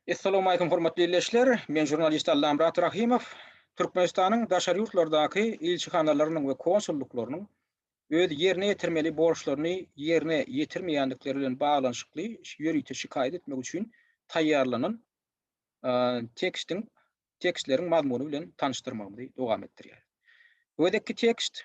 Essalawmaleýkum hormatly illeşler! Men žurnalist Allamyrat Rahymow. Türkmenistanyň daşary ýurtlardaky ilçihanalarynyň we konsullyklarynyň öz ýerine ýetirmeli borçlaryny ýerine ýetirmeýändikleri bilen baglanyşykly ýörite şikaýat etmek üçin taýýarlanan tekstiň tekstleriň mazmuny bilen tanyşdyrmagymyzy dowam etdirýäris. Bu gezekki tekst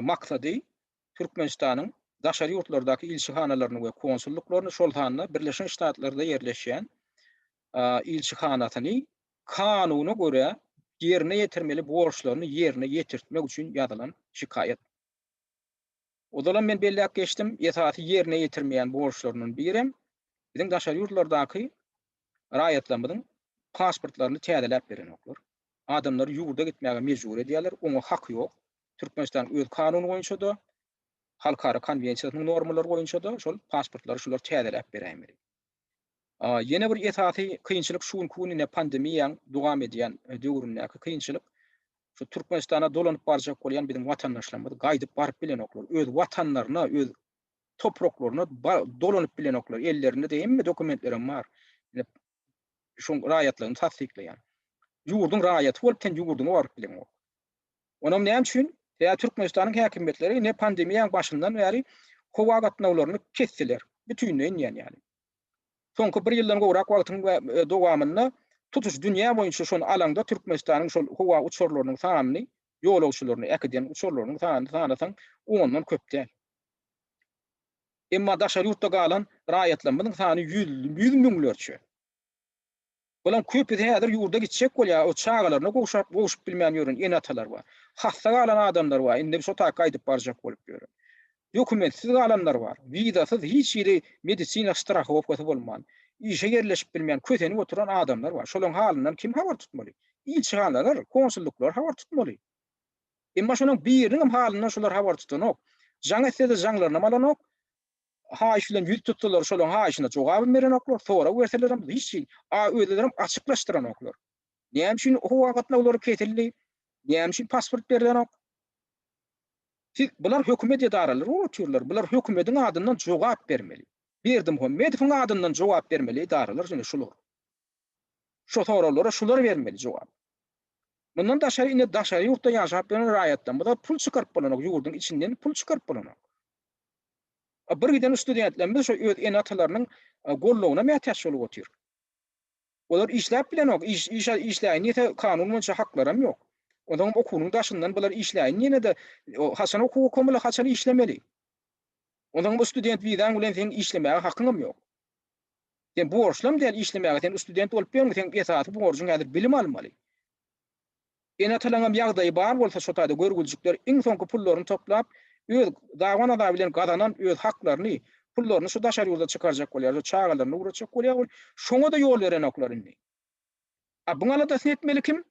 maksady Türkmenistanyň daşary ýurtlardaky ilçihanalaryny we konsullyklaryny, şol sanda Birleşen Ştatlarda ýerleşýän ilçihanasyny kanuna görä ýerine ýetirmeli borçlaryny ýerine ýetirtmek üçin ýazylan şikaýat. Ozalam men belläp geçdim, esasy ýerine ýetirmeýän borçlaryndan birem biziň daşary ýurtlardaky Raýatlarymyzyň pasportlaryny täzeläp berenoklar. Adamlary ýurda gitmäge mejbur edýärler, oňa haky ýok. Türkmenistanyň öz kanuny boýunça-da, halkara konwensiýasynyň normalary boýunça-da şol pasportlary şular täzeläp beräýmeli. Ýene bir esasy kynçylyk şu günki gün ine pandemiýaň dowam edýän döwründäki kynçylyk şu Türkmenistana dolanyp barjak bolýan biziň watandaşlarymyz gaýdyp baryp bilenoklar. Öz watanlaryna, öz topraklaryna dolanyp bilenoklar. Ellerinde de hemme dokumentlerem bar. Şoň raýatlygyny tassyklaýan. Ýurduň raýaty bolup sen ýurduňa baryp bileňok. Onam näme üçin? Ýa Türkmenistanyň häkimiýetleri ne pandemiýaň başyndan bäri howa gatnawlaryny kesdiler. Bütinleýin diýen ýaly. Soňky bir ýyldan gowrak wagtyň dowamynda tutuş dünýä boýunça şony alaňda Türkmenistanyň şol howa uçarlarynyň sanyny, ýolagçylaryny äkiden uçarlarynyň sanyny sanasaň ondan köp däl. Emma daşary ýurtda galan raýatlarymyzyň sany ýüz müňlerçe. Bularyň köpüsi häzir ýurda gitjek bolýar, o çagalaryna gowşap, gowşup bilmän ýören ene-atalar bar. Hassa galan adamlar bar, indi şo taýy gaýdyp barjak bolup ýören. Dokumentsiz galanlar bar, wizasyz, hiç hili medisina strahowkasy bolman, işe ýerleşip bilmän, kösenip oturan adamlar bar. Şolaryň halyndan kim habar tutmaly? Ilçihanalar, konsullyklar habar tutmaly. Emma şolaryň biriniňem halyndan şolar habar tutanok. Jaň etsede jaňlarynam alanok. Haýyş bilen ýüz tutsalar şolaryň haýyşyna jogabam berenoklar, sorag berselerem hiç kim a özlerem açyklaşdyranoklar. Näme üçin howa gatnawlary kesildi? Näme üçin pasport berilenok? Siz bular hökümet edaralary bolup otyrlar. Bular hökümetiň adyndan jogap bermeli. Berdimuhammedowyň adyndan jogap bermeli edaralar ýene şolar. Şo soraglara şular bermeli jogap. Mundan daşary indi daşary ýurtda ýaşap ýören raýatlarymyza pul çykaryp bolanok ýurduň içinden pul çykaryp bolanok. A bir giden studentlerimiz şo öz ene atalarynyň goldawyna mätäç bolup otyr. Olar işläp bilenok iş iş işläýin diýse kanun boýunça haklaram ýok. Onsoňam okuwynyň daşyndan bular işläýin diýenede haçan okuw okamyly haçan işlemeli. Onsoňam bu student wizaň bilen seň işlemäge hakyňam ýok. Sen borçlam däl işlemäge sen ustudent bolup ýörüň seň esasy borjuň häzir bilim almaly. Ene atalaňam ýagdaýy bar bolsa şo taýda görgüljikler iň soňky pullaryny toplap öz daban azaby bilen gazanan öz haklaryny pullaryny şu daşary ýurda çykarjak bolýar şu çagalaryny ugratjak bolýar ol şoňada ýol berenoklar indi. A buň aladasyny etmeli kim?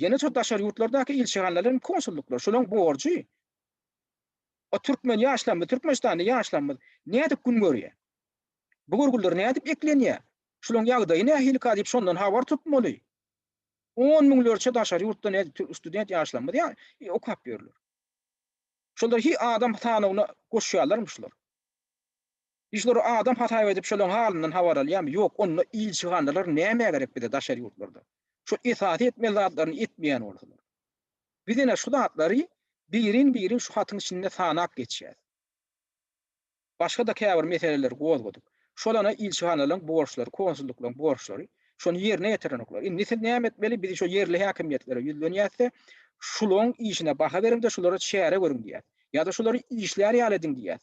Ýene-de daşary ýurtlardaky ilçihanalaryň konsullyklary şolaryň borjy. O türkmen ýaşlarymyz, Türkmenistanda ýaşlarymyz nädip gün görýär? Bu görgüller nädip eklenýär? Şolaryň ýagdaýy nähilika diýip şondan habar tutmaly. On müňlerçe daşary ýurtda ne student ýaşlarymyz ýa okap ýörler. Şolar hi adam sanawyna goşýarlarmy şular? Işleri adam hasap edip şolaň halyndan habar alýamy ýok onda ilçihanalar nämä gerek bize daşary ýurtlarda şo esasy etmeli zatlaryny etmeýän bolsalar biz ene şu zatlary birin birin şu hatyň içinde sanap geçýäs başgada käbir meseleleri gozgadyk şolana ilçihanalaň borçlary konsullyklaň borçlary şony ýerine ýetirenoklar indi siz näme etmeli biz şo ýerli häkimiýetlere ýüzlenýäsde şulaň işine baha beriňde şulara çäre görüň diýýäs ýada şulary işlär ýaly ediň diýýäs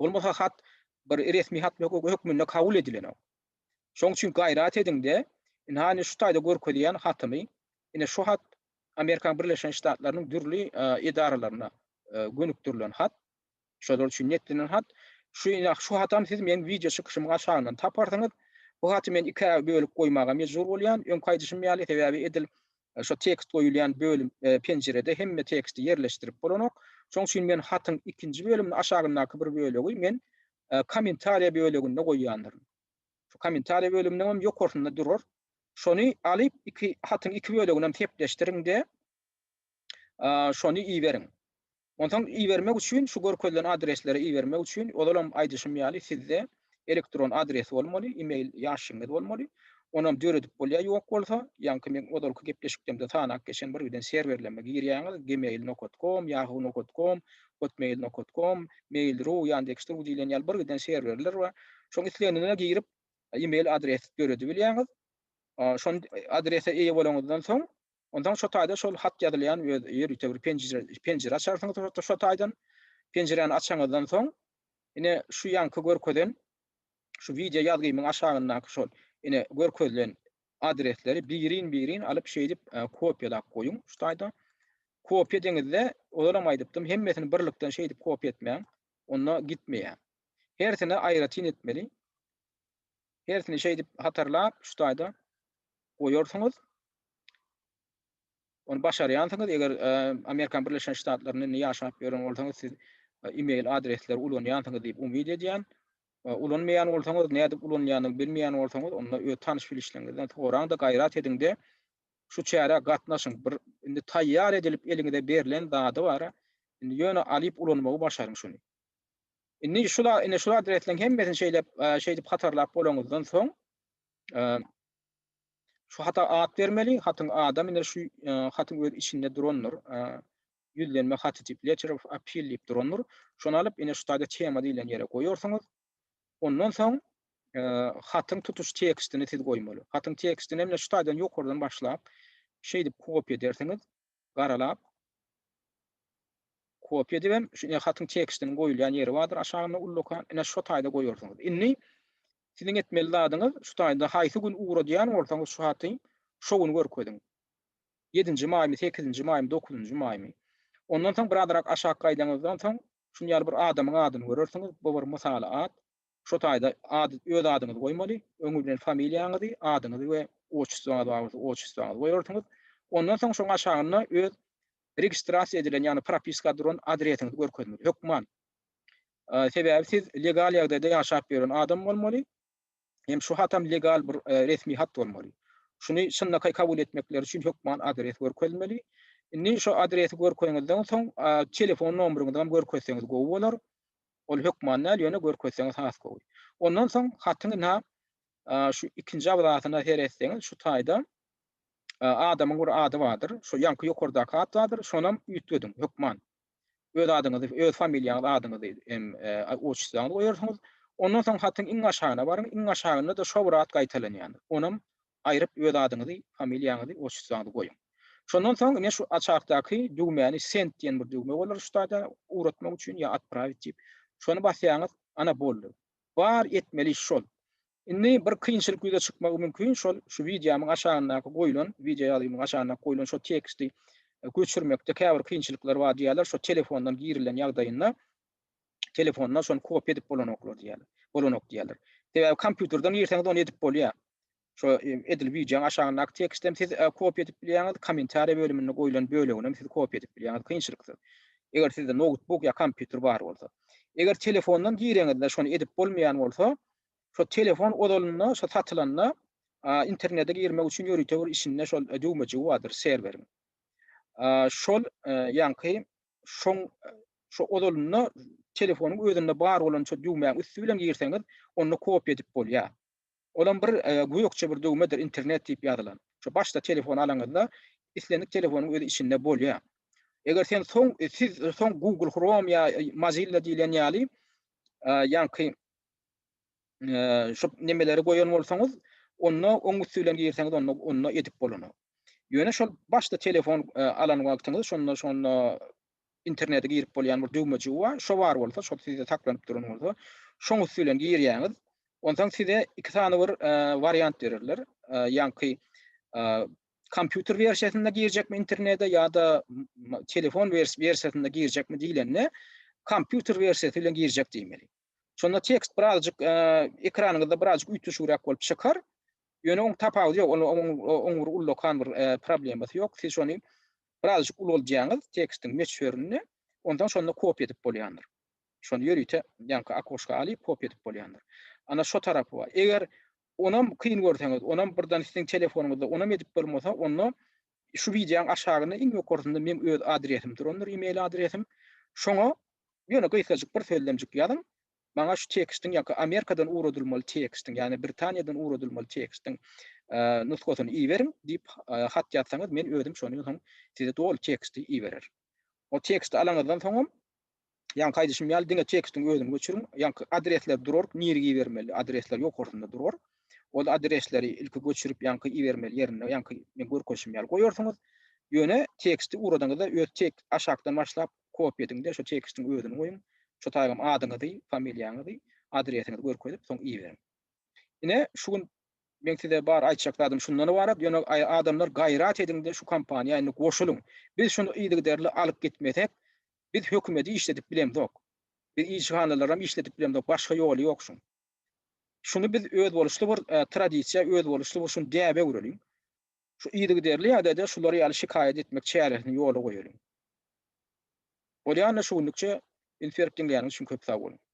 Bolmasa hat bir resmi hat hökmünde kabul edilenok. Şoň üçin gaýrat ediň-de, ynha indi şu taýda görkezýän hatymy, ine şu hat Amerikanyň Birleşen Ştatlarynyň dürli edaralaryna gönükdirilen hat, şolar üçin netlenen hat, şu ine şu hatam siz meniň wideo çykyşymyň aşagyndan taparsyňyz. Bu haty men ikä bölüp goýmaga mejbur bolýan, öňki aýdyşym ýaly, sebäbi edil Şo tekst goýulýan bölüm, penjirede hemme teksti ýerleşdirip bolanok. Şoň üçin men hatyň ikinji bölümini aşagyndaky bir bölegi men Kommentariýa böleginde goýýandyryn. Şu Kommentariýa bölüminiň hem ýokarsynda durar. Şony alyp, iki hatyň iki böleginem sepleşdiriň-de, şony iberiň. Onsoň ibermek üçin şu görkezilen adreslere ibermek üçin ozalam aýdyşym ýaly sizde elektron adres bolmaly, email ýaşyňyz bolmaly. Onam döredip bolýar ýok bolsa, ýaňky meň ozalky gepleşikdemde sanap geçen birgiden serwerleme girýäňiz gmail nokat kom, yahoo nokat kom, hotmail nokat kom, mail ru, yandex ru diýlen ýaly birgiden serwerler bar. Şoň islenine girip email adres döredibilýäňiz. Şon adrese eýe bolanyňyzdan soň Onsoň şo taýda şol hat ýazylýan öz ýörite bir penjire açarsyňyz şo taýdan. Penjiräni açanyňyzdan soň ine şu ýaňky görkezen şu wideo ýazgymyň aşagyndaky şol ine görkezilen adresleri birin-birin alyp şeýdip kopiýalap goýuň şu taýda. Kopiýa edeňizde ozalam aýdypdym hemmesini birlikden şeýdip kopiýa etmäň onda gitmeýär. Hersini aýratyn etmeli. Hersini şeýdip hatarlap şu taýda goýarsyňyz. Ony başarýansyňyz, eger Amerikan Birleşen Ştatlarynda indi ýaşap ýören bolsaňyz, siz e-mail adresleri ulanýansyňyz diýip umyt edýän. Ulanmaýan bolsaňyz, nädip ulanýanyny bilmeýän bolsaňyz, onda öz tanyş-bilişleriňizden soraň-da, gaýrat ediň-de, şu çärä gatnaşyň. Bir indi taýýar edilip eliňize berlen zady bar-a, indi ýöne alyp ulanmagy başaryň şuny. Indi şula, indi şula adresleň hemmesini şeýlep, şeýdip hatarlap bolaňyzdan soň, şu hata at bermeli, hatyň adam indi şu hatyň öz içinde durandyr. Ýüzlenme haty diýip, letter of appeal diýip durandyr. Şony alyp, indi şu taýda tema diýlen ýere goýarsyňyz. Ondan soň hatyň tutuş tekstini siz goýmaly. Hatyň tekstini hem şu taýdan ýokardan başlap, şeýdip kopiýa edersiňiz. garalap, kopýa edibem, şu ine hatyň tekstiniň goýulýan ýeri bardyr aşagynda ullakan, ine şo taýda goýarsyňyz. Indi siziň etmeli zadyňyz şu taýda haýsy gün ugradýan bolsaňyz şu haty, şo güni görkeziň. Ýedinji maýmy, sekizinji maýmy, dokuzynjy maýmy. Ondan soň birazrak aşak gaýdaňyzdan soň şuny ýaly bir adamyň adyny görersiňiz, bu bir mysaly at. Şu taýda ady öz adyňyzy goýmaly, öňi bilen familiýaňyzy, adyňyzy we otçustwaňyz bar bolsa otçustwaňyzy goýarsyňyz. Ondan soň şoň aşagynda öz registrasiýa edilen ýagny propiska duran adresiňizi görkezmeli. Hökman. Sebäbi siz legal ýagdaýda ýaşap ýören adam bolmaly. Hem şu hatam legal bir resmi hat bolmaly. Şuny çynlakaý kabul etmekleri üçin hökman adres görkezmeli. Indi şu adresi görkeňizden soň telefon nomeryňyzam görkezseňiz gowy bolar. Ol hökman däl, ýöne görkezseňiz has gowy. Ondan soň hatyňy na şu ikinji abrasyna seretseňiz şu taýda adamyň bir ady bardyr. Şu ýaňky ýokardaky at bardyr, şonam üýtgediň hökman. Öz adyňyzy, öz familiýaňyzy, adyňyzy hem otçusyňyzy goýarsyňyz. Ondan soň hatyň iň aşagyna baryň, iň aşagynda-da şo bir at gaýtalanýandyr. Onam aýryp öz adyňyzy, familiýaňyzy, otçusyňyzy goýuň. Şondan soň ine şu açardaky düwmäni send diýen bir düwme bolar üstade ugratmak üçin ýa atprawit diýip. Şony basýaňyz, ana boldy. Bar etmeli iş şol. Indi bir kynçylyk ýüze çykmagy mümkin şol şu wideomyň aşagyndaky goýlan, wideo ýazgymyň aşagyndaky goýlan şo teksti göçürmekde käbir kynçylyklar bar diýýärler şo telefondan girilen ýagdaýynda. telefonda şony kopýa edip bolanoklar diýýärler. Bolanok diýýärler. Sebäbi kompýuterden girseňiz ony edip bolýar. Şo edil wideoň aşagyndaky teksti hem siz kopýa edip bilýäňiz, kommentariýa bölüminde goýlan bölegini hem siz kopýa edip bilýäňiz kynçylyksyz. Eger sizde noutbuk ýa kompýuter bar bolsa. Eger telefondan gireňizde şony edip bolmaýan bolsa, şo telefon ozalynda şo satylanda internete girmek üçin ýörite bir içinde şol düwmejigi bardyr serweriň. Şol ýaňky şoň şu ozalynda telefonyň özünde bar bolan şu düwmäň üsti bilen girseňiz, onda kopiýa edip bolýar. Olam bir e, gökçe bir düwmedir, internet diýip ýazylan. Şu başda telefon alaňyzda islendik telefonyň özi içinde bolýar. Eger sen soň e, siz soň Google Chrome ýa e, Mozilla diýlen ýaly e, ýaňky şu nemeleri goýan bolsaňyz, onda oň üsti bilen girseňiz onda onda edip bolany. Ýöne şol başda telefon alan wagtyňyz şonda şonda internete girip bolýan bir düwmejigi bar. Şo bar bolsa, şo sizde saklanyp duran bolsa, şoň üsti bilen girýäňiz. Onsoň size iki sany bir wariant bererler. Ýaňky kompýuter wersiýasynda girjekmi internete ýa-da telefon wersiýasynda girjekmi diýlende, kompýuter wersiýasy bilen girjek diýmeli. Şonda tekst birazjyk ekranyňyzda birazjyk üýtgeşigräk bolup çykar. Ýöne oň tapawudy ýok. Oň bir ullakan bir problemasy ýok. Siz şony birazjyk ulaldýaňyz tekstiň möçberini, onsoň şonda kopiýa edip bolýandyr. Şony ýörite ýaňky okoşka alyp kopiýa edip bolýandyr. Ana şu tarapy bar. Eger onam kyn görseňiz, onam birden siziň telefonyňyzda onam edip bolmasa, onda Şu wideoň aşagynda iň ýokarsynda meň öz adresim durandyr email adresim. Şoňa ýöne gysgajyk bir sözlemjik ýazyň. Maňa şu tekstiň ýa-ki Amerikadan ugradylmaly tekstiň, ýagny Britaniýadan ugradylmaly tekstiň nusgasyny iberiň diýip hat ýazsaňyz men özüm şondan soň size doly teksti iberer. O teksti alaňyzdan soňam Ýaňky aýdyşym ýaly diňe tekstiň özüni göçüriň. Ýaňky adresler durar, nirä ibermeli adresler ýokarsynda durar. Ol adresleri ilki göçürip ýaňky ibermeli ýerinde ýaňky men görkezişim ýaly goýarsyňyz. Ýöne teksti ugradanyňyzda öz tek aşakdan başlap kopýa ediňde şo tekstiň özüni goýuň. Şo taýgam adyňyzy, familiýaňyzy, adresiňizi görkezip soň iberiň. Ine şu gün meň size bar aýtjak zadym şundan ybarat. Ýöne adamlar gaýrat ediňde şu kampaniýa indi goşulyň. Biz şuny yzygiderli alyp gitmesek Biz hökümedi işledip bilemzok. Biz ilçihanalaram işledip bilemzok, başga ýoly ýok şuň. Şuny biz özboluşly bir tradisiýa, özboluşly bir şuny däbe öwreliň. Şu yzygiderli ýagdaýda şular ýaly şikaýat etmek çäresini ýola goýalyň. Bolýanda şu günlükçe, indi serip diňleýäniňiz üçin köp sag boluň.